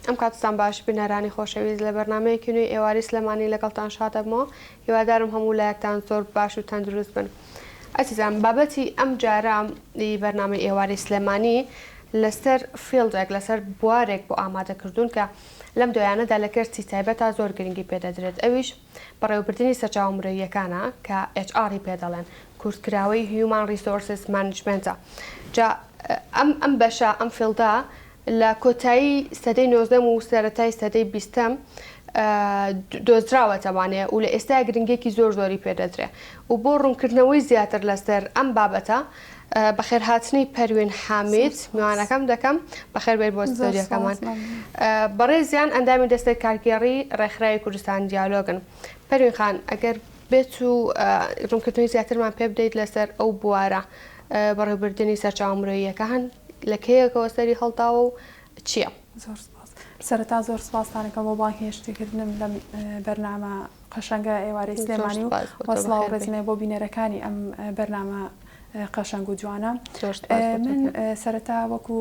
ئەم کاتتان باش بینەرانی خۆشەویست لە بەرنامەیەکی نوێی ئێواری سلێمانی لەگەڵتان شاد ئەبمەوە هیوادارم هەموو لایەکتان زۆر باش و تەندروست بن ئەزیزان بابەتی ئەم جارە ی بەرنامەی ئێواری سلێمانی لەسەر فیڵدێک لەسەر بوارێک بۆ ئامادە کردوون کە لەم دوایانەدا لە کەرتی تایبەتا زۆر گرنگی پێ دەدرێت ئەویش بەڕێوەبردنی سەرچاوە مرۆییەکانە کە ئێچ ئاڕ ی پێ دەڵێن کورتکراوەی هیومان ڕیسۆرسس مانجمێنتە جا ئەم ئەم بەشە ئەم فیڵدە لە کۆتایی سەدەی نۆزدەم و سەرەتای سەدەی بیستەم دۆزراوەتەوانێ و لە ئێستایا گرنگیەکی زۆر زۆری پێ دەدرێ و بۆ ڕوونکردنەوەی زیاتر لەسەر ئەم بابەتە بەخێرهاتنی پەروین حامید میوانەکەم دەکەم بەخێربێیت بۆ ستۆدیۆکەمان بەڕێزیان ئەندامی دەستەی کارگێڕی ڕێکخراوی کوردستان دیالۆگن پەروین خان ئەگەر بێت و ڕونکردنەوەی زیاترمان پێ بدەیت لەسەر ئەو بوارە بەڕێوبردنی سەرچاوە مرۆییەکان لە کەیەکەوە سەری هەڵداوە و چیە؟ زۆر سپاس. سەرەتا زۆر سپاستان ئەکەم بۆ بانگهێشتی کردنم لەم بەرنامە قەشەنگە ئێوارەی سلێمانی و وە سڵاو و ڕێزم هەیە بۆ بینەرەکانی ئەم بەرنامە قەشەنگ و جوانە. من سەرەتا وەکو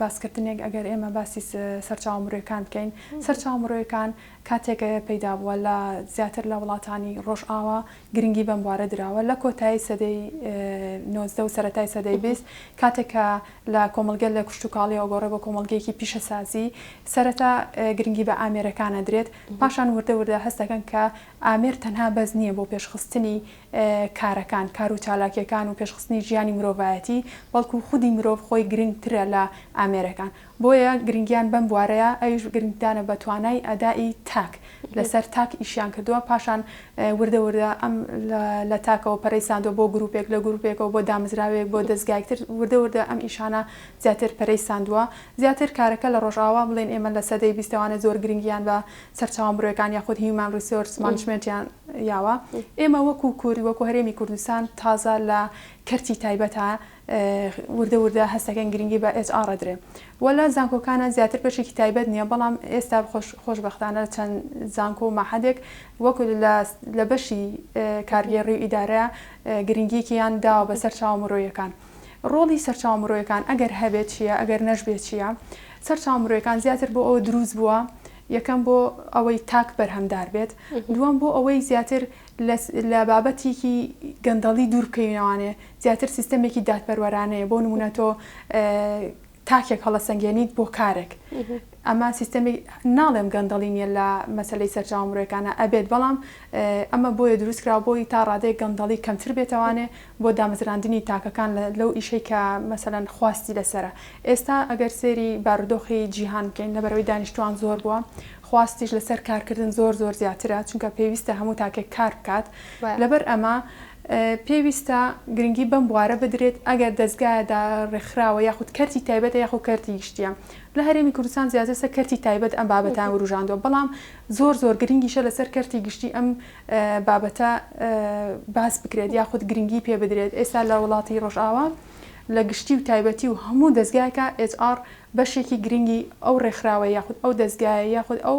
باسکردنێک ئەگەر ئێمە باسی سەرچاوە مرۆیەکان بکەین سەرچاوە مرۆیەکان کاتێک پەیدا بووە لە زیاتر لە وڵاتانی ڕۆژئاوا گرنگی بەم بوارە دراوە لە کۆتایی سەدەی نۆزدە و سەرەتای سەدەی بیست کاتێک کە لە کۆمەڵگە لە کشتوکاڵیەوە گۆڕێ بۆ کۆمەڵگەیەکی پیشەسازی سەرەتا گرنگی بە ئامێرەکان ئەدرێت پاشان وردە وردە هەست دەکەن کە ئامێر تەنها بەس نییە بۆ پێشخستنی کارەکان کار و چالاکیەکان و پێشخستنی ژیانی مرۆڤایەتی بەڵکو خودی مرۆڤ خۆی گرنگترە لە ئامێرەکان بۆیە گرنگیان بەم بوارەیە، ئەویش گرنگدانە بە توانای ئەدائی تاک، لەسەر تاک ئیشیان کردووە، پاشان وردە وردە ئەم لە تاکەوە پەرەی ساندووە بۆ گروپێک، لە گروپێکەوە بۆ دامزراوێک، بۆ دەزگایەک تر، وردە وردە ئەم ئیشانە زیاتر پەرەی ساندووە، زیاتر کارەکە لە ڕۆژئاوا بڵێین ئێمە لە سەدەی بیستەوانە زۆر گرنگیان بە سەرچاوە مرۆیەکان یاخود هیومان ڕیسۆرس مانجمێنتیان یاوە، ئێمە وەکو کورد، وەکو هەرێمی کوردستان تازە لە کەرتی تایبەتە، وردە وردە هەست دەکەین گرنگی بە ئێچ ئاڕ ئەدرێ و لە زانکۆکانا زیاتر بەشێکی تایبەت نییە بەڵام ئێستا خۆشبەختانە لە چەند زانکۆ و مەعهەدێک وەک لە بەشی کارگێڕی و ئیدارە گرنگیەکیان داوە بە سەرچاوە مرۆیەکان ڕۆڵی سەرچاوە مرۆیەکان ئەگەر هەبێت چییە ئەگەر نەشبێت چییە سەرچاوە مرۆیەکان زیاتر بۆ ئەوە دروست بووە یەکەم بۆ ئەوەی تاک بەرهەمدار بێت دووەم بۆ ئەوەی زیاتر لە بابەتێکی گەندەڵی دوور بکەینەوانێ زیاتر سیستەمێکی دادپەروەرانەیە بۆ نمونە تۆ تاکێک هەڵەسەنگێنیت بۆ کارێک ئەمە سیستەمی ناڵێم گەندەڵی نیە لە مەسلەی سەرچاو مرۆەکانە ئەبێت بەڵام ئەمە بۆیە دروستکرا بۆی تا ڕادەیە گەندەڵی کەمتر بێتوانێ بۆ دامەزراندنی تاکەکان لەو ئیشەی کە مەسەەن خواستی لەسرە ئێستا ئەگەر سێری بارودۆخی جیهان بکەین لەبەرەوەی دانیشتوان زۆر بووە خواستیش لەسەر کارکردن زۆر زۆر زیاترە چونکە پێویستە هەموو تاکێک کار بکات لەبەر ئەمە پێویستە گرنگی بەم بوارە بدرێت ئەگەر دەزگایە دا رێکخراوە یاخود کەرتی تایبەتە یاخود کەرتی گشتیە لە هەرێمی کوردستان زیاتر سەر کەرتی تایبەت ئەم بابەتان وروژاندوە بەڵام زۆر زۆر گرنگیشە لەسەر کەرتی گشتی ئەم بابەتە باس بکرێت یاخود گرنگی پێ بدرێت ئێستا لە وڵاتی رۆژئاوا لە گشتی و تایبەتی و هەموو دەزگایەکا ئێچ ئاڕ بەشێکی گرنگی ئەو رێکخراوە یاخود ئەو دەزگایە یاخود ئەو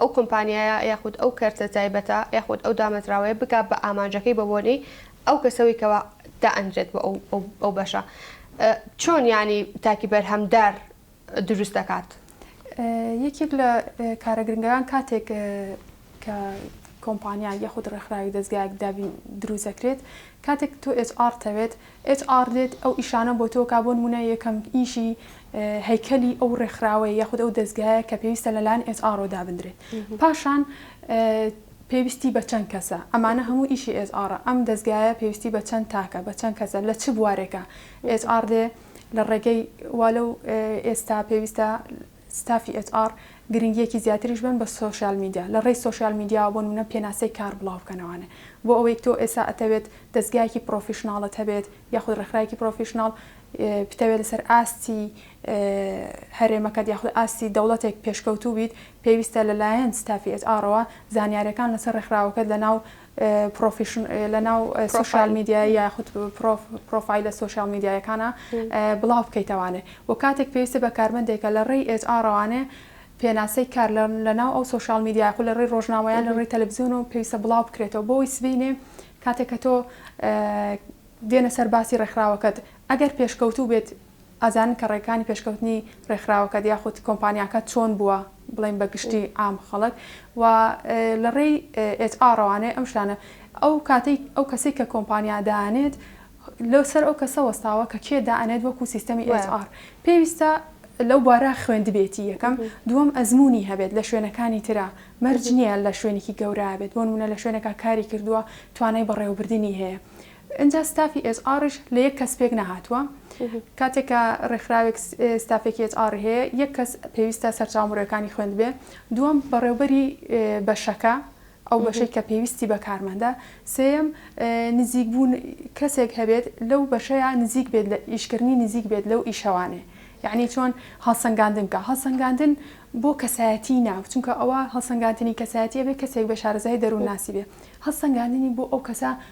ئەو کۆمپانیایە یاخود ئەو کەرتە تایبەتە یاخود ئەو دامەزراوەیە بگا بە ئامانجەکەی بە بۆنەی ئەو کەسەوەی کەوا دائەنرێت بۆ ئەو بەشە چۆن یانی تاکی بەرهەمدار دروست دەکات یەکێک لە کارە گرنگەکان کاتێک کە کۆمپانیا یاخود ڕێکخراوی دەستگایەک دابین دروستەکرێت کاتێک تۆ HR تەوێت ئێچ ئاڕ دێت ئەو ئیشانە بۆ تۆ کا بۆ نموونە یەکەم ئیشی هەیکەلی ئەو ڕێکخراوەیە یاخود ئەو دەزگایە کە پێویستە لەلایەن ئێچ ئاڕەوە دابندرێت پاشان پێویستی بە چەند کەسە ئەمانە هەموو ئیشی ئێچ ئاڕە ئەم دەزگایە پێویستی بە چەند تاکە بە چەند کەسە لە چ بوارێکە ئێچ ئاڕ دێ لە ڕێگەی والە و ئێستا پێویستە ستافی ئێچ ئاڕ گرنگییەکی زیاتریش بەن بە سۆشیال میدیا، لە ڕێی سۆشیال میدیاوە بۆ نموونە پێناسەی کار بڵاو بکەنەوانێ. بۆ ئەوەی تۆ ئێستا ئەتەوێت دەزگایەکی پڕۆفیشناڵت هەبێت یاخود ڕێکخراوێکی پڕۆفیشناڵ بتەوێت لەسەر ئاستی هەرێمەکەت یاخود ئاستی دەوڵەتێک پێشکەوتوو بیت، پێویستە لەلایەن ستافی ئێچ ئاڕەوە زانیارییەکان لەسەر ڕێکخراوەکەت لەناو پرۆفیشن لەناو سۆشیال میدیای یاخود پرۆفایلە سۆشیال میدیایەکانە بڵاو بکەیتەوانێ و کاتێک پێویستە بە کارمەندێکە لە ڕێی ئێچ ئاڕەوانێ پێناسەی کار لەناو ئەو سۆشیال میدیای خو لە ڕێی ڕۆژنامەیان لە ڕێی تەلەڤزیۆن و پێویستە بڵاو بکرێتەوە بۆی سبینێ کاتێک کە تۆ دێنە سەر باسی ڕێکخراوەکەت ئەگەر پێشکەوتوو بێت ئەزانن کە ڕێکانی پێشکەوتنی ڕێکخراوەکەت یاخود کۆمپانیاکەت چۆن بووە بڵێین بە گشتی عام خەڵک و لە ڕێی ئێچ ئاڕەوانێ ئەم شتانە ئەو کاتەی ئەو کەسەی کە کۆمپانیا دانێت لەو سەر ئەو کەسە وەستاوە کە کێ دانێت وەکو سیستەمی ئێچ ئاڕ پێویستە لەو بارە خوێندبێتی یەکەم دووەم ئەزمونی هەبێت لە شوێنەکانی ترا مەرج نییە لە شوێنێکی گەورە بێت بۆ نمونە لە شوێنێکا کاری کردووە توانای بەڕێوەبردنی هەیە ئینجا ستافی ئێچ ئاڕیش لە یەک کەس پێک نەهاتووە. کاتێک کە ڕێکخراوێک ستافێکی ئێچ ئاڕی هەیە، یەک کەس پێویستە سەرچاوە مرۆیەکانی خوێندبێ، دووەم بەڕێوبەری بەشەکە، ئەو بەشەی کە پێویستی بە کارمەندە، سێیەم نزیک بوون کەسێک هەبێت لەو بەشەیا نزیک بێت لە ئیشکردنی نزیک بێت لەو ئیشەوانێ. یەعنی چۆن هەڵسەنگاندن بکا. هەڵسەنگاندن بۆ کەسایەتیی ناو، چونکە ئەوە هەڵسەنگاندنی کەسایەتی ئەبێ کەسێک بێ شارەزایی دەروونناسی بێ. هەڵسەنگاندنی بۆ ئەو کەسە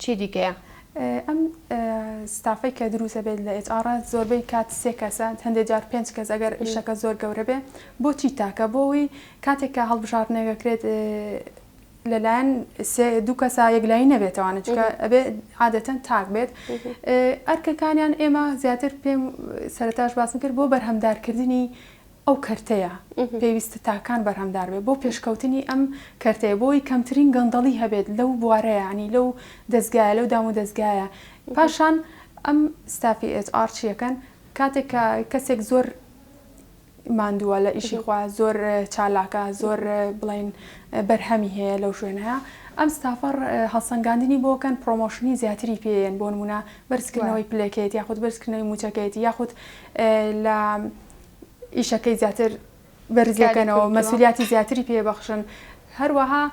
چی دیکەیە ئەم ستافەی کە دروست دەبێت لە ئێچ ئاڕ زۆربەی کات سێ کەسە هەندێک جار پێنج کەس ئەگەر ئیشەکە زۆر گەورە بێ بۆچی تاکە بۆەوەی کاتێک کە هەڵبژاردنەکەکرێت لەلایەن دوو کەسا یەکلایی نەبێتەوانە چکە ئەبێ عادەتەن تاک بێت ئەرکەکانیان ئێمە زیاتر پێم سەرتاش باسم کرد بۆ بەرهەمدارکردنی ئەو کەرتەیە پێویستە تاکان بەرهەمدار بێت بۆ پێشکەوتنی ئەم کەرتەیە بۆی کەمترین گەندەڵی هەبێت لەو بوارەیە ینی لەو دەستگایە لەو دام و دەستگایە پاشان ئەم ستافی ئێچ ئار چیەکەن کاتێک کە کەسێک زۆر ماندووە لە ئیشی خوا زۆر چالاکە زۆر بڵین بەرهەمی هەیە لەو شوێنەیە ئەم ستافەڕ هەڵسەنگاندنی بۆکەن پرۆمۆشنی زیاتری پێیەن بۆ نمونە بەرزکردنەوەی پلەکەیت یاخود بەرزکردنەوەی موچەکەیت یاخود لە ئیشەکەی زیاتر بەرزەکەنەوە مەسولیاتی زیاتری پێبەخشن هەروەها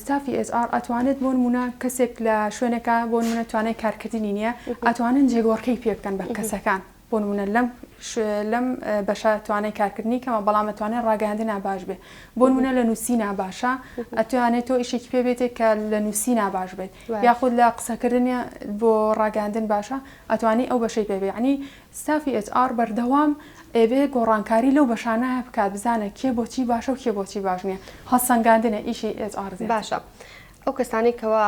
ستافی ئێزار ئەتوانێت بۆن مونە کەسێک لە شوێنەکە بۆن منە توانای کارکردنی نییە ئەتوانن جێگۆڕکەی پێ بکەن بە کەسەکان بۆن منە لەم لەم بەشە توانای کارکردنی کەمە بەڵام ئەتوانێت ڕاگەاندە ناباش بێ بۆن منە لە نووسی ناباشە ئەتوانێت تۆ ئیشێکی پێ بێتێک کە لە نووسی ناباش بێت یاخود لە قسەکردنی بۆ ڕاگەاندن باشە ئەتوانی ئەو بەشەی پێ بێ عنی ستافی ئێچ ئاڕ بەردەوام ئەبێ گۆڕانکاری لەو بەشانە بکات بزانێت کێ بۆچی باشە و کێ بۆچی باش نییە. هەڵسەنگاندنە ئیشی ئێچ ئاڕ زیاتر. باشە ئەو کەسانەی کەوا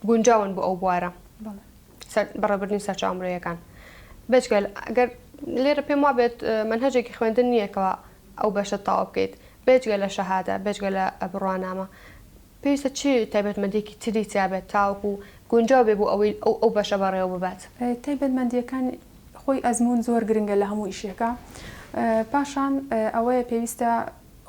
گونجاون بۆ ئەو بوارە بەڕێوەبردنی سەرچاوە مرۆیەکان بێجگەل گەر لێرە پێم وابێت مەنهەجێکی خوێندن نییە کەوا ئەو بەشە تەواو بکەیت بێجگە لە شەهادە بێجگە لە بڕوانامە پێویستە چ تایبەتمەندییەکی تری تیا بێت تاوەکو گونجاو بێت بۆ ئەوەی ئەو ئەو بەشە بەڕێوە ببات؟ تایبەتمەندییەکان، خۆی ئەزموون زۆر گرنگە لە هەموو ئیشێکا. پاشان ئەوەیە پێویستە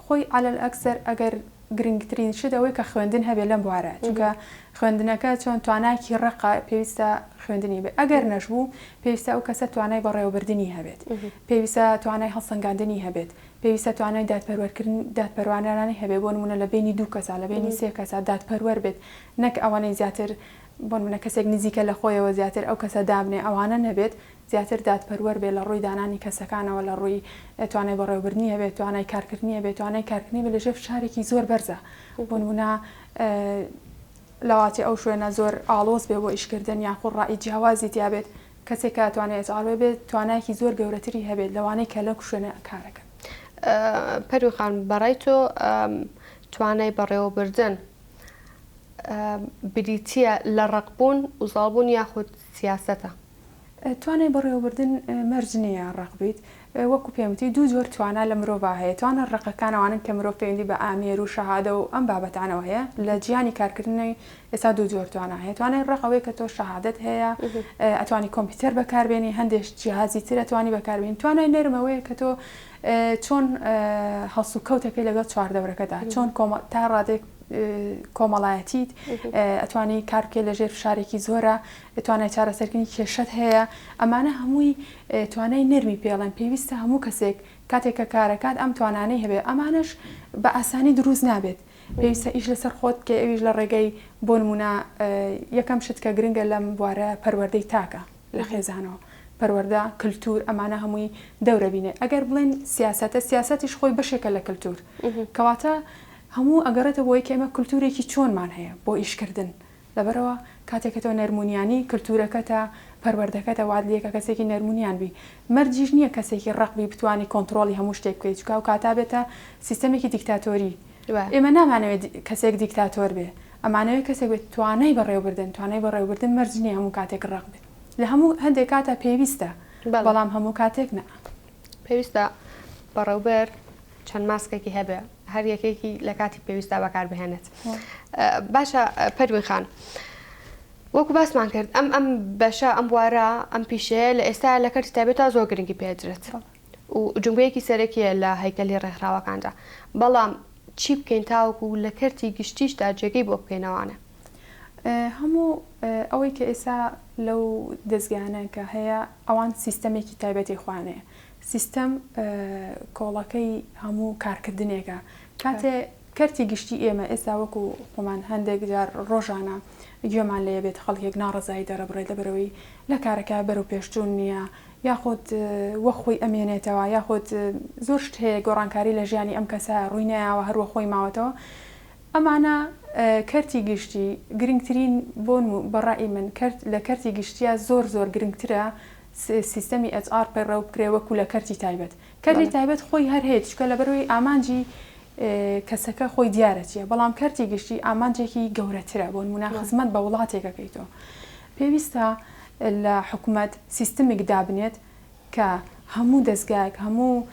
خۆی عەلە الئەکسەر ئەگەر گرنگترین شت ئەوەیە کە خوێندن هەبێت لەم بوارە، چونکە خوێندنەکە چۆن توانایەکی ڕەقە پێویستە خوێندنی هەبێت. ئەگەر نەشبوو پێویستە ئەو کەسە توانای بەڕێوەبردنی هەبێت. پێویستە توانای هەڵسەنگاندنی هەبێت. پێویستە توانای دادپەروەرکردن دادپەروانرانەی هەبێت بۆ نموونە لە بەینی دوو کەسا لە بەینی سێ کەسا دادپەروەر بێت نەک ئەوەنەی زیاتر بۆ نموونە کەسێک نزیکە لە خۆیەوە زیاتر ئەو کەسە دابنێ ئەوانە نەبێت زیاتر دادپەروەر بێت لە ڕووی دانانی کەسەکانەوە لە ڕووی توانای بەڕێوەبردنی هەبێت توانای کارکردنی هەبێت توانای کارکردنی بێت لە ژێر فشارێکی زۆر بەرزا بۆ نموونە لەواتی ئەو شوێنە زۆر ئاڵۆز بێ بۆ ئیشکردن یاخود ڕای جیاوازی تیا بێت کەسێک کە توانای ئەچ ئاڕ بێت توانایەکی زۆر گەورەتری هەبێت لەوانەی کە لەو شوێنە کارەکەن. پەروین خان بەڕای تۆ توانای بەڕێوەبردن بریتییە لە ڕەقبوون و زاڵبوون یاخود سیاسەتە؟ توانای بەڕێوەبردن مەرج نییە ڕەق بیت، وەکو پێم وتی دوو جۆر توانا لە مرۆڤا هەیە، توانا ڕەقەکان ئەوانەن کە مرۆڤ پەیوەندی بە ئامێر و شەهادە و ئەم بابەتانەوە هەیە، لە جیهانی کارکردنی ئێستا دوو جۆر توانا هەیە، توانای ڕەق ئەوەیە کە تۆ شەهادەت هەیە ئەتوانی کۆمپیوتەر بەکار بێنی هەندێک جیهازی تر ئەتوانی بەکار بێنی، توانای نەرم ئەوەیە کە تۆ چۆن هەڵسوکەوت ئەکەی لەگەڵ چواردەورەکەدا، چۆن تا ڕادەیەک کۆمەڵایەتیت ئەتوانی کار بکەی لە ژێر فشارێکی زۆرا، توانای چارەسەرکردنی کێشەت هەیە، ئەمانە هەمووی توانای نەرمی پێڵێن، پێویستە هەموو کەسێک کاتێک کە کارەکات ئەم توانانەی هەبێت، ئەمانەش بە ئاسانی دروست نابێت، پێویستە ئیش لەسەر خۆت بکەی ئەویش لە ڕێگەی بۆ نموونە یەکەم شت کە گرنگە لەم بوارە پەروەردەی تاکە لە خێزانەوە، پەروەردە، کلتور، ئەمانە هەمووی دەورە بینێ، ئەگەر بڵێن سیاسەتە سیاسەتیش خۆی بەشێکە لە کلتور، کەواتە هەموو ئەگەڕێتە بۆی کە ئێمە کلتورێکی چۆنمان هەیە بۆ ئیشکردن، لەبەرئەوە کاتێک کە تۆ نەرمونیانی کلتورەکەتە پەروەردەکەتە وات لێکە کەسێکی نەرمونیان بی مەرجیش نیە کەسێکی ڕەق بی بتوانی کۆنتڕۆڵی هەموو شتێک بکەی چونکە ئەوکاتە ئەبێتە سیستەمێکی دیکتاتۆری ئێمە نامانەوێ کەسێک دیکتاتۆر بێ ئەمانەوێ کەسێک بێ توانای بەڕێوەبردن توانای بەڕێوەبردن مەرج نیە هەموو کاتێک ڕەق بێ لە هەموو هەندێک کاتا پێویستە بەڵام هەموو کاتێک نا. پێویستە بەڕێوبەر چەند ماسکێکی هەبێ هەر یەکێکی لە کاتی پێویستا بەکار بهێنێت باشە پەروین خان وەکو باسمان کرد ئەم ئەم بەشە ئەم بوارە ئەم پیشەیە لە ئێستا لە کەرتی تابێت تا زۆر گرنگی پێدرێت و جمگەیەکی سەرەکیە لە هەیکەلی ڕێکخراوەکاندا بەڵام چی بکەین تاوەکو و لە کەرتی گشتیشدا جێگەی بۆ بکەینەوانە هەموو ئەوەی کە ئێستا لەو دەستگانە کە هەیە ئەوان سیستەمێکی تایبەتی خۆیان هەیە، سیستەم کۆڵەکەی هەموو کارکردنێکە، کاتێ کەرتی گشتی ئێمە ئێستا وەکو خۆمان هەندێک جار ڕۆژانە گوێمان لێ بێت خەڵکێک ناڕەزایی دەرەبڕێت لەبەرەوەی لە کارەکە بەرەو پێشچوون نییە یاخود وەک خۆی ئەمێنێتەوە یاخود زۆر شت هەیە گۆڕانکاری لە ژیانی ئەم کەسە ڕووی نەیاوە هەروەخۆی ماوەتەوە ئەمانە کەرتی گشتی گرنگترین بۆن و بە ڕای من کەرت لە کەرتی گشتیا زۆر زۆر گرنگترە سیستەمی ئێچ ئاڕ پەیڕەو بکرێ وەکو لە کەرتی تایبەت. کەرتی بەڵێ. تایبەت خۆی هەر هەیە چونکە لەبەرئەوەی ئامانجی کەسەکە خۆی دیارە چیە بەڵام کەرتی گشتی ئامانجێکی گەورەترە بۆنمونە بەڵێ. خزمەت بە وڵاتێکەکەی تۆ پێویستە لە حکومەت سیستمێک دابنێت کە هەموو دەزگایەک هەموو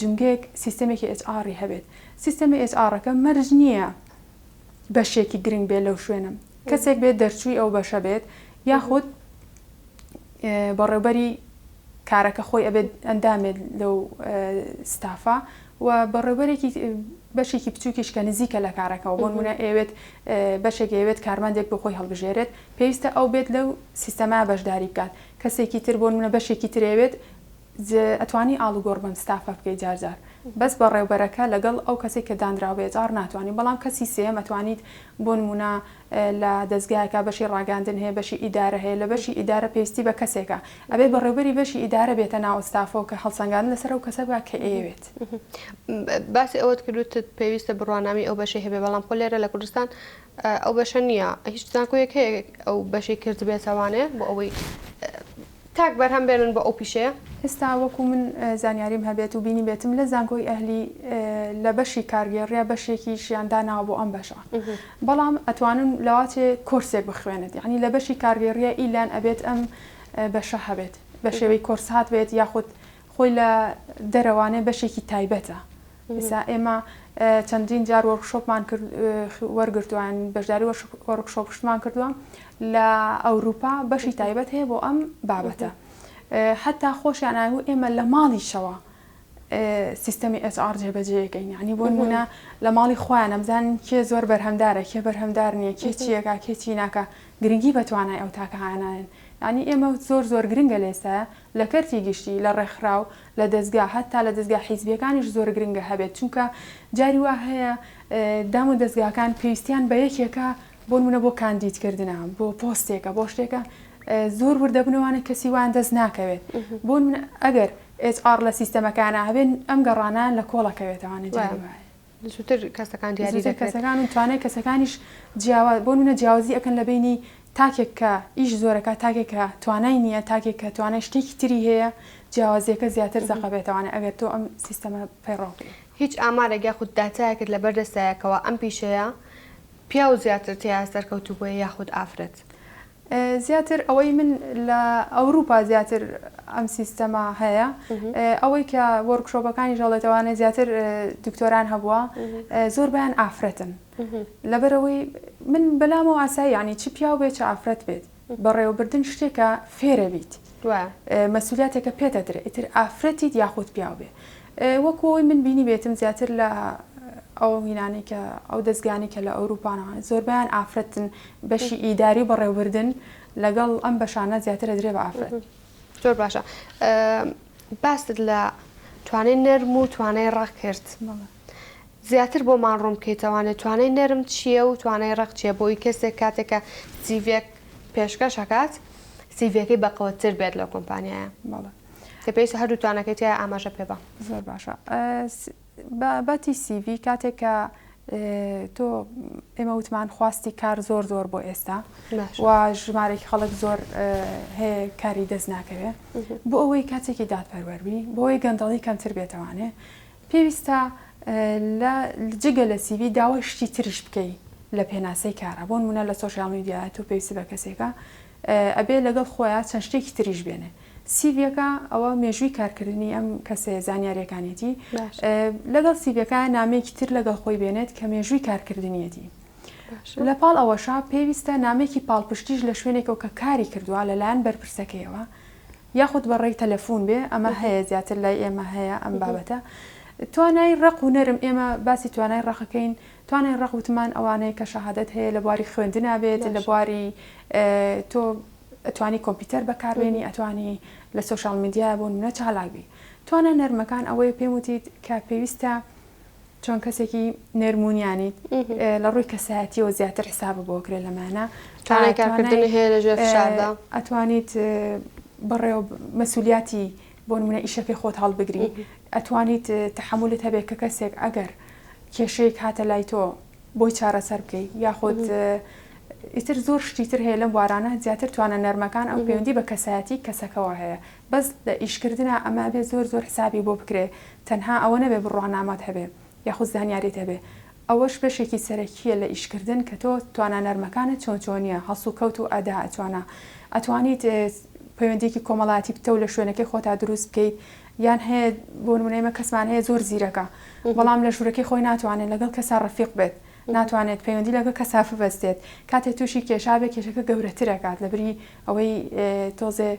جومگەیەک سیستەمێکی ئێچ ئاڕی هەبێت سیستەمی ئێچ ئاڕەکە مەرج نییە بەشێکی گرنگ بێت لەو شوێنم کەسێک بێت دەرچووی ئەو بەشە بێت یاخود بەڕێوبەری کارەکە خۆی ئەبێت ئەندامێت لەو ستافا و بەڕێوبەرێکی بەشێکی بچووکیش کە نزیکە لە کارەکەەوە بۆن منە ئەوێت بەشێک ئەوێت کارماندێک بۆ خۆی هەڵبژێرێت پێویستە ئەو بێت لەو سیستەما بەشداری بکات کەسێکی تر بۆنمونە بەشێکی تر ئەیەوێت ج ئەتوانی ئاڵوگۆڕ بەم ستافە بکەی جارجار بەس بەڕێوبەرەکە لەگەڵ ئەو کەسەی کە دانراو بە ئێچ ئاڕ ناتوانی بەڵام کەسی سێیەم ئەتوانیت بۆ نمونە لە دەزگایەکا بەشی ڕاگەاندن هەیە بەشی ئیدارە هەیە لە بەشی ئیدارە پێویستی بە کەسێکە ئەبێت بەڕێوبەری بەشی ئیدارە بێتە ناو ستافەوە کە هەڵسەنگاندن لەسەر ئەو کەسە بکا کە ئەیەوێت. باسی ئەوەت کرد وتت پێویستە بڕوانامەی ئەو بەشەی هەبێ بەڵام خۆ لێرە لە کوردستان ئەو بەشە نیە هیچ زانکۆیەک هەیە ئەو بەشەی کردبێتەوانێ بۆ ئەوەی تاک بەرهەم بێنن بۆ ئەو پیشەیە؟ ئێستا وەکو من زانیاریم هەبێت و بینیبێتم لە زانکۆی ئەهلی لە بەشی کارگێڕیا بەشێکیشیان داناوە بۆ ئەم بەشە بەڵام ئەتوانن لەواتێ کۆرسێک بخوێنێت یعنی لە بەشی کارگێڕیە ئیلان ئەبێت ئەم بەشە هەبێت بە شێوەی کۆرس هاتبێت یاخود خۆی لە دەرەوانێ بەشێکی تایبەتە ئێسا ئێمە چەندین جار وۆرکشۆپمان وەرگرتووە یان بەشداری وۆرکشۆپشتمان کردووە لە ئەوروپا بەشی تایبەت هەیە بۆ ئەم بابەتە حتا خۆشیان ئاگو ئێمە لە ماڵیشەوە سیستەمی HR جێبەجێەکەین ینی بۆ نمونە لە ماڵی خۆیان ئەمزان کێ زۆر بەرهەمدارە کێ بەرهەمدار نییە کێ چیەکە کێ چیناکە گرنگی بە توانای ئەو تاکە هاانایەن ینی ئێمە زۆر زۆر گرنگە لێسە لە کەرتی گشتی، لە ڕێکخراو، لە دەزگا، هەتا لە دەزگا حیزبییەکانیش زۆر گرنگە هەبێت، چونکە جاری وا هەیە دام و دەزگاکان پێویستیان بە یەکێکە بۆ نموونە بۆ کاندیدکردنە بۆ پۆستێکە بۆ شتێکە زۆر ورد دەبنەوە وانە کەسی وایان دەست ناکەوێت بۆ نموونە ئەگەر HR لە سیستەمەکانە هەبێت ئەم گەڕانەیان لە کۆڵەکەوێتەوانە جاری وایە. زووتر کەسەکان دیاری دەکرێت. زووتر کەسەکان و توانای کەسەکانیش جیاوا، بۆ نموونە جیاوازی ئەکەن لە بەینی تاکێک کە ئیش زۆر ئەکات، تاکێک کە توانای نییە، تاکێک کە توانای شتێکی تری هەیە، جیاوازییەکە زیاتر زەق ئەبێتەوانێ ئەگەر تۆ ئەم سیستەمە پەیڕەو بکەی. هیچ ئامارێک یاخود داتایەکت لە بەر دەستایە کەوا ئەم پیشەیە پیاو زیاتر تێیا سەرکەوتوو بووە یاخود ئافرەت؟ زیاتر ئەوەی من لە ئەوروپا زیاتر ئەم سیستەما هەیە ئەوەی کە وەرکشۆپەکانی ژەڵێتەوانە زیاتر دکتۆران هەبووە زۆر بیان ئافرەتن لەبەرەوەی من بەلامەوە ئاسایی ینی چ پیاو بێت چ ئافرەت بێت بەڕێوەبردن شتێکە فێرەبیت مسولیاتێکە پێتە درێ ئیتر ئافرەتیت یاخود پیاو بێ وەکو ئەوەی من بینیبێتم زیاتر لە ئەو هینانەی کە ئەو دەزگانەی کە لە ئەوروپانەوە زۆربیان ئافرەتن بەشی ئیداری و بەڕێوبردن لەگەڵ ئەم بەشانە زیاتر دەدرێ بە ئافرەت زۆر باشە باست لە توانای نەرم و توانای ڕق کرد زیاتر بۆمان ڕوون بکەیتەوانێت توانای نەرم چییە و توانای ڕق چیە بۆی کەسێک کاتێکە سیڤێک پێشکەشەکات سیڤەکەی بەقەوەتر بێت لە کۆمپانیایە بەڵێ کە پێویستە هەردووتانەکەی تیا ئاماژە پێ بە. زۆر باشە بابەتی سیڤی کاتێک کە تۆ ئێمە وتمان خواستی کار زۆر زۆر بۆ ئێستا و ژمارێکی خەڵک زۆر هەیە کاری دەست ناکەوێت بۆ ئەوەی کاتێکی دادپەروەربی بۆی گەندەڵی کەمتر بێتوانێ پێویستە لە جگە لە سیوی داوای شتی تریش بکەی لە پێناسەی کارە بۆن منە لە سوۆشال میدیایەت و پێویستی بە کەسێکە ئەبێ لەگەڵ خۆیا چەند شتێکی تریش بێنێ سیڤیەکە ئەوە مێژووی کارکردنی ئەم کەسێ زانیاریەکانێتی لەگەڵ سیڤەکە نامێکی تر لەگەڵ خۆی بێنێت کە مێژووی کارکردنیەتی لە پاڵ ئەوەشا پێویستە نامێکی پاڵپشتیش لە شوێنێکەوە کە کاری کردووە لەلایەن بەرپرسەکەیەوە یاخود بەڕێی تەلەفۆن بێ ئەمە هەیە زیاتر لای ئێمە هەیە ئەم بابەتە توانای ڕق و نەرم ئێمە باسی توانای ڕقەکەین توانای ڕق وتمان ئەوانەی کە شەهادەت هەیە لە بواری خوێندنا بێت لە بواری تۆ ئەتوانی کۆمپیوتەر بەکاربێنی ئەتوانی لە سۆشال میدیا بۆ نمونە چالاک بی توانا نەرمەکان ئەوەیە پێم وتیت کە پێویستە چۆن کەسێکی نێرمونیانیت لە ڕووی کەسایەتیەوە زیاتر حسابە بۆ کرێ لەمانە چاکردنی هەیە لە ژێر فشاردا ئەتوانیت بەڕێوە مەسولیاتی بۆ نمونە ئیشەکەی خۆت هەڵبگری ئەتوانیت تەحەمولت هەبێت کە کەسێک ئەگەر کێشەیەک هاتە لای تۆ بۆی چارەسەر بکەیت یاخود ئیتر زۆر شتی تر هەیە لەم بوارانە زیاتر توانە نەرمەکان ئەو پەیوەندی بە کەسایەتی کەسەکەەوە هەیە بەس لە ئیشکردە ئەمە بێ زۆر زۆر حسابی بۆ بکرێ تەنها ئەوە نەبێ بڕوانامات هەبێ یاخود زانیاریت هەبێ ئەوەش بەشێکی سەرەکیە لە ئیش کردن کە تۆ توانا نەرمەکانت چۆن چۆنیە هەڵسوکەوت و ئەدا ئەتوانا ئەتوانیت پەیوەندیەکی کۆمەڵایەتی پتەو لە شوێنەکەی خۆتا دروست بکەیت یان هەیە بۆ نمونە ئێمە کەسمان هەیە زۆر زیرەکە بەڵام لە ژورەکەی خۆی ناتوانێت لەگەڵ کەسا ڕەفیق بێت ناتوانێت پەیوەندی لەگە کەسا ببەستێت کاتێ تووشی کێشا بێ کێشەکە گەورەترەکات لەبری ئەوەی تۆزێ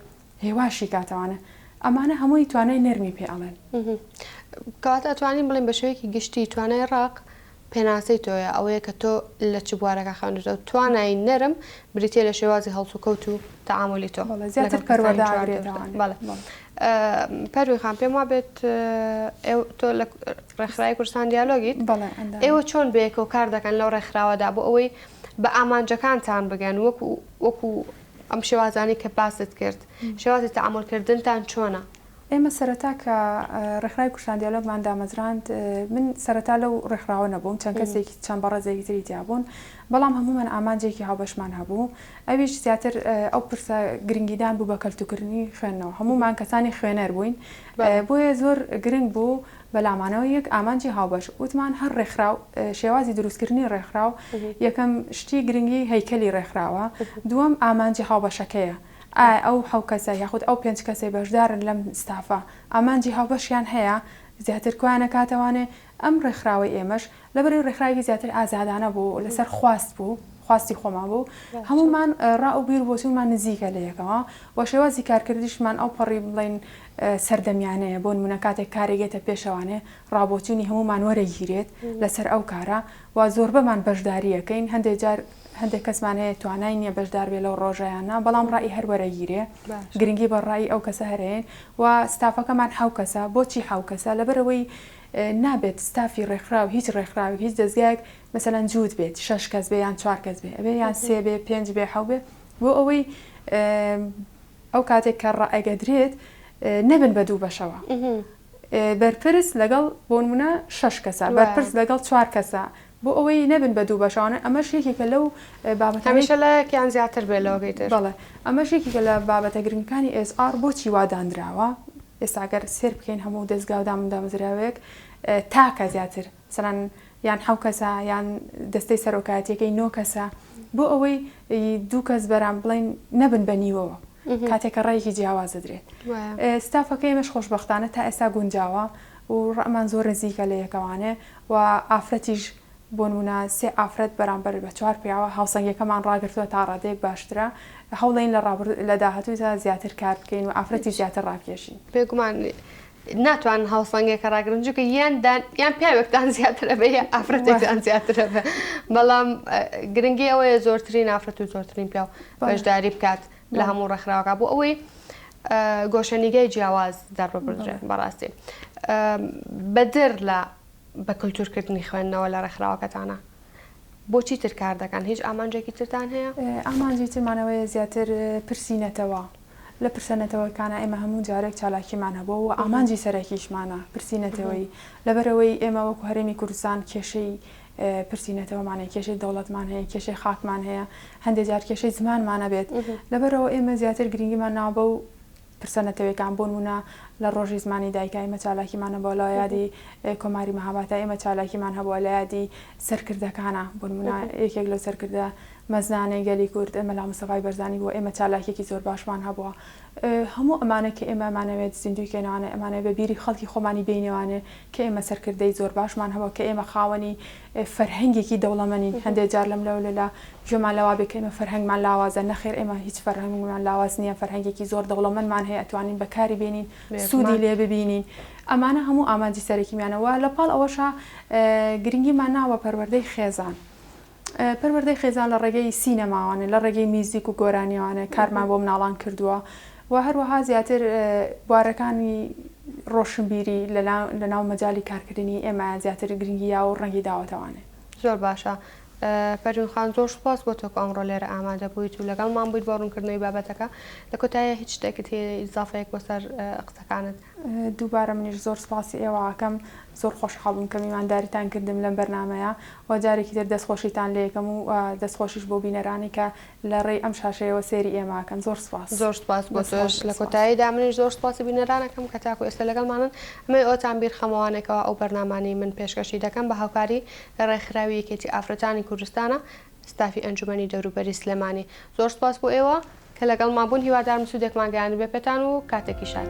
هێواشی کاتەوانە ئەمانە هەمووی توانای نەرمی پێ ئەڵێن. کەواتە ئەتوانین بڵێین بە شێوەیەکی گشتی توانای ڕەق پێناسەی تۆیە ئەوەیە کە تۆ لە چ بوارەکە خوێندوتەوە توانای نەرم بریتە لە شێوازی هەڵسوکەوت و تەعاملی تۆ زیاتر پەروەداگرێتەوە پەروی خان پێم وابێت تۆ لە ڕێکخرای کوردستان دیالۆگیت ئێوە چۆن بەیەکەوە کار دەکەن لەو ڕێکخراوەدا بۆ ئەوەی بە ئامانجەکانتان بگەن وەکو وەکو ئەم شێوازانەی کە باست کرد شێوازی تەعامول کردنتان چۆنە؟ ئێمە سەرەتا کە ڕێکخراوی کوردستان دیالۆگمان دامەزراند من سەرەتا لەو ڕێکخراوە نەبووم چەند کەسێکی چەند بەڕێزێکی تری تیا بوون بەڵام هەموومان ئامانجێکی هاوبەشمان هەبوو ئەویش زیاتر ئەو پرسە گرنگیدان بوو بە کەلتوکردنی خوێندنەوە هەموومان کەسانی خوێنەر بووین بۆیە زۆر گرنگ بوو بەلام مانەوەی یەک ئامانجی هاوبەش وتمان هەر ڕێکخراو شێوازی دروستکردنی ڕێکخراو یەکەم شتی گرنگی هەیکەلی ڕێکخراوە دووەم ئامانجی هاوبەشەکەیە ئایا ئەو حەو کەسە یاخود ئەو پێنج کەسەی بەشدارن لەم ستافە ئامانجی هاوبەشیان هەیە زیاتر کۆیانە کاتەوانێ ئەم ڕێکخراوەی ئێمەش لەبەرەی ڕێکخراوێکی زیاتر ئازادانە بوو لەسەر خواست بوو خواستی خۆمان بوو هەمومان ڕا و بیر بۆچوونمان نزیکە لە یەکەوە و شێوازی کارکردیشمان ئەو پەڕی بڵین سەردەمیانەیە، بۆ نموونە کاتێک کارێک یەتە پێ شەوانێ ڕابۆچوونی هەموومان وەرەگیرێت لەسەر ئەو کارە و زۆربەمان بەشداری ئەکەین هەندێ جار هەندێک کەسمان هەیە توانای نییە بەشدار بێ لەو ڕۆژەیانە بەڵام ڕای هەر وەرەگیرێ گرنگی بە ڕای ئەو کەسە هەرەیەن و ستافەکەمان حەو کەسە بۆچی حەو کەسە لەبەرەوەی نابێت ستافی ڕێکخرا و هیچ ڕێکخراوی هیچ دەستگایەک مەسەلەن جووت بێت شش کەس بێ یان چوار کەس بێ ئەبێ یان سێ بێ پێنج بێ حەو بێ بۆ ئەوەی ئەو کاتێک کە ڕائەگەدرێت نەبن بە دوو بەشەوە بەرپرس لەگەڵ بۆنمونە شش کەسە بەرپرس لەگەڵ چوار کەسە بۆ ئەوەی نەبن بە دوو بەشانە ئەمەش یەکێکە لەو بابەت هەمیشە لایەکیان زیاتر بێ لەوەگەی بەڵێ ئەمەش یەکێکە لە بابەتە گرنگەکانی ئێسئار بۆچی وادانراوە ئێستاگەر سێر بکەین هەموو دەستگاودامدامزراوێک تاکە زیاتر سەران یان حەو کەسە یان دەستەی سەرۆکایەتیەکەی نۆ کەسە بۆ ئەوەی دوو کەس بەرام بڵین نەبن بە نیوەوە کاتێک کە ڕێکی جیاواز دەدرێت ستافەکەی مەش خۆشببختانە تا ئێستا گونجاوە و ڕەمان زۆر نزیکە لە یەکەوانێ و ئافرەتیش بۆنمونە سێ ئافرەت بەرامبەر بە چوار پیاوە هاوسەنگەکەمان ڕاگرتووە تا ڕادێک باشترە هەوڵین لە ڕابر لە داهاتوودا زیاتر کار بکەین و ئافرەتی زیاتر ڕاکێشین بێگومان ناتوانن هاوسەنگێکە ڕاگرن جوکە یان دان یان پیاوێکتان زیاترە بە یان ئافرەتێکتان زیاترە بە بەڵام گرنگی ئەوەیە زۆرترین ئافرەت و زۆرترین پیاو بەشداری بکات لە هەموو ڕێکخراوەکە بۆ ئەوەی گۆشەنیگای جیاواز دەڕبدرێن بەڕاستی بەدر لە بە کللتورکردنی خوێندنەوە لە ڕێکخراوەکەتانە بۆچی تر کار دەکەن هیچ ئامانجێکی ترتان هەیە ئامانجی ترمانەوەی زیاتر پرسی نەتەوە لە پرسە نەتەوەکانە ئێمە هەموو جارێک چالاکیمان هەبووە و ئامانجی سەرەکیشمانە پرسی نەتەوەیی، لەبەرئەوەی ئێمە وەکو هەرێمی کوردستان کێشەی پرسی نەتەوەمان هەیە، کێشەی دەوڵەتمان هەیە، کێشەی خاکمان هەیە، هەندێک جار کێشەی زمانمان ئەبێت، لەبەرئەوە ئێمە زیاتر گرنگیمان ناوە بەو پرسە نەتەوەیەکان، بۆ نموونە لە ڕۆژی زمانی دایکا ئێمە چالاکیمان هەبووە، لە یادی کۆماری مەهابادتا ئێمە چالاکیمان هەبووە، لە یادی سەرکردەکانا بۆ نموونە یەکێک لەو سەرکردە مەزنانەی گەلی کورد مەلا مستەفای بەرزانی بووە ئێمە چالاکیەکی زۆر باشمان هەبووە هەموو ئەمانە کە ئێمە ئەمانەوێت زیندووی کەینەوانێ ئەمانەوێت بە بیری خەڵکی خۆمانی بێینەوانێ کە ئێمە سەرکردەی زۆر باشمان هەبووە کە ئێمە خاوەنی فەرهەنگێکی دەوڵەمەنین هەندێ جار لەم لەو لەلا گوێمان لەوە بێ کە ئێمە فەرهەنگمان لاوازە نەخێر ئێمە هیچ فەرهەنگمان لاواز نییە فەرهەنگێکی زۆر دەوڵەمەنمان هەیە ئەتوانین بەکاری بێنین سوودی لێ ببینین ئەمانە هەموو ئامانجی سەرەکیمانە وە لە پاڵ ئەوەشا گرنگیمان ناوە پەروەردەی خێزان پەروەردەی خێزان لە ڕێگەی سینەماوانە، لە ڕێگەی میوزیک و گۆرانیەوانە کارمان بۆ مناڵان کردووە و هەروەها زیاتر بوارەکانی ڕۆشنبیری لە ناو مەجالی کارکردنی ئێمەیان زیاتر گرنگی یاوە و ڕەنگی داوەتەوانێ. زۆر باشە پەروین خان زۆر سوپاس بۆ تۆ کە ئەمڕۆ لێرە ئامادە بوویت و لەگەڵمان بوویت بۆ ڕوونکردنەوەی بابەتەکە لە کۆتاییە هیچ شتێکت هەیە ئیزافەیەک بۆ سەر قسەکانت؟ دووبارە منیش زۆر سوپاسی ئێوە ئەکەم زۆر خۆشحاڵ بووم کە میوانداریتان کردم لەم بەرنامەیە و جارێکی تر دەست خۆشیتان لێ ئەکەم و دەست خۆشیش بۆ بینەرانی کە لە ڕێی ئەم شاشەیەوە سێری ئێمە ئەکەن زۆر سوپاس. زۆر سوپاس بۆ تۆش لە کۆتاییدا منیش زۆر سوپاسی بینەران ئەکەم کە تاکو ئێستا لەگەڵمانن ئەمەی ئەوەتان بیر خەمە وانەکەوە ئەو بەرنامانەی من پێشکەشی دەکەم بە هاوکاری ڕێکخراوی یەکێتی ئافرەتانی کوردستانە ستافی ئەنجومەنی دەوروبەری سلێمانی زۆر سوپاس بۆ ئێوە کە لەگەڵمان بوون هیوادارم سودێکمان گەیاندبێ پێتان و کاتێکی شاد.